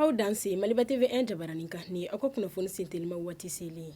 aw danse Maliba TV1 jabaranin kan ni aw ka kunnafoni sentelima waati selen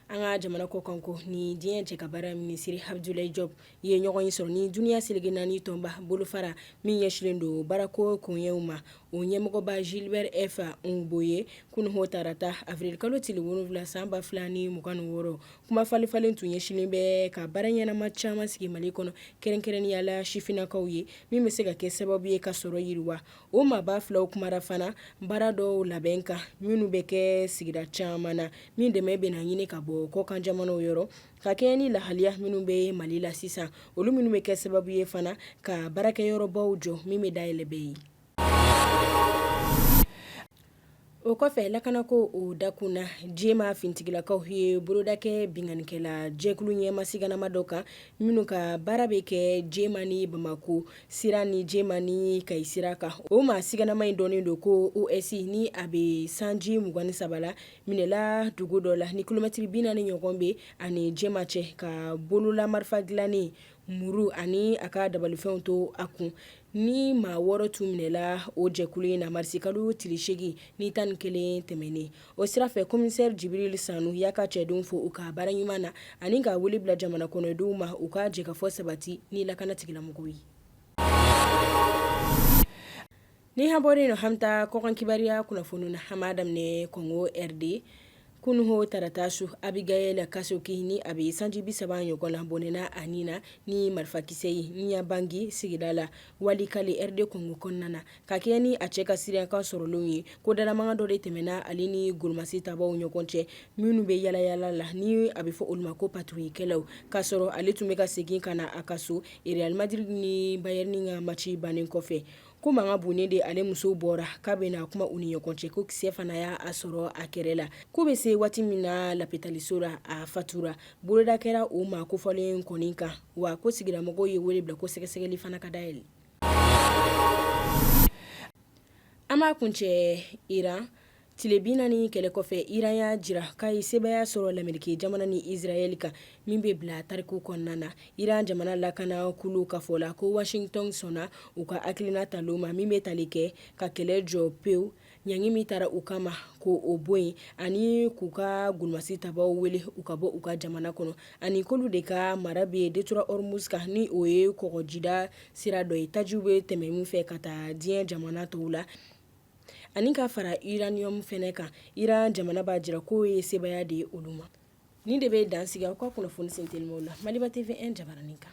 an ka jamana kɔkanko ni diɲɛ cɛ ka baara minisiri Abdoulaye Diop ye ɲɔgɔnye sɔrɔ ni dunya seleke naani tɔnba bolofara min ɲɛsinlen don baarako koɲɛw ma o ɲɛmɔgɔba Gilbert F. Houngbo ye kunun o tarata avril kalo tile wolonwula san ba fila ni mugan ni wɔɔrɔ, kuma falenfalen tun ɲɛsinnen bɛ ka baara ɲɛnama caman sigi Mali kɔnɔ, kɛrɛnkɛrɛnnenya la sifinnakaw ye, min bɛ se ka kɛ sababu ye ka sɔrɔ yiriwa. O maaba filaw kumara fana baara dɔw labɛn kan, minnu bɛ kɛ sigida caman na, min dɛmɛ bɛna ɲini ka bɔ kɔkanjamanaw yɔrɔ, Ka kɛɲɛ ni lahaliya minnu bɛ Mali la sisan, olu minnu bɛ kɛ sababu ye fana ka baarakɛyɔrɔbaw jɔ min bɛ dayɛlɛ bɛɛ ye. O kɔfɛ lakanako o dakun na Jema finitigilakaw ye boloda kɛ binkanikɛla jɛkulu ɲɛmaa siganama dɔ kan, minnu ka baara bɛ kɛ Jema ni Bamako sira ni Jema ni Kayi sira kan. O maa siganama in dɔnnen don ko OS ni a bɛ sanji 23 la. minɛla dugu dɔ la ni kilomɛtiri bi naani ɲɔgɔn bɛ a ni Jema cɛ k'a bolola marifa dilannen muru ani a ka dabalifɛnw to a kun ni maa wɔɔrɔ tun minɛla o jɛkulu in na marisikalo tile segin ni tan ni kelen tɛmɛnen o sira fɛ komisɛri Jibril Sanu y'a ka cɛdenw fo u ka baara ɲuman na ani ka wele bila jamana kɔnɔdenw ma u ka jɛkafɔ sabati ni lakanatigilamɔgɔ ye Ni an bɔra o la an bɛ taa kɔkan kibaruya kunnafoni na an b'a daminɛ kɔngo rd kunun o tarata su Abigail Kasoki ni a bɛ sanji bi saba ɲɔgɔn na bɔnɛna a nin na ni marifakisɛ ye Nyabangi sigida la Walikale rd kɔngo kɔnɔna na ka kɛɲɛ ni a cɛ ka seereyakan sɔrɔlen ye ko dalamankan dɔ de tɛmɛna ale ni golomasi tabaw ɲɔgɔn cɛ minnu bɛ yaalayaala la ni a bɛ fɔ olu ma ko patrouillekɛlaw k'a sɔrɔ ale tun bɛ ka segin ka na a ka so Real Madrid ni Bayern ka mati bannen kɔfɛ ko mankan bonnen de ale muso bɔra k'a bɛna kuma u ni ɲɔgɔn cɛ ko kisɛ fana y'a sɔrɔ a kɛrɛ la k'u bɛ se waati min na lapitaliso la a fatura boloda kɛra o maa kofɔlen kɔni kan wa ko sigilamɔgɔw ye wele bila ko sɛgɛsɛgɛli fana ka dayɛlɛ an b'a kuncɛ iran Tile bi naani kɛlɛ kɔfɛ Iran y'a jira k'a ye sebaaya sɔrɔ lamerike jamana ni Israel kan min bɛ bila tariku kɔnɔna na. Iran jamana lakana kulu ka fɔ la ko Washington sɔnna u ka hakilina talen ma min bɛ tali kɛ ka kɛlɛ jɔ pewu ɲangi min tara u kama ko o bɔ yen ani k'u ka golomasi tabaw wele u ka bɔ u ka jamana kɔnɔ ani k'olu de ka mara bɛ Détroit Hormuz kan ni o ye kɔgɔjida sira dɔ ye tajiw bɛ tɛmɛ min fɛ ka taa diɲɛ jamana tɔw la. ani ka fara uranium fɛnɛ kan Iran jamana b'a jira k'o ye sebaaya de ye olu ma nin de bɛ dan sigi aw ka kunnafoni sen telimaw la Maliba TV 1 jabaranin kan.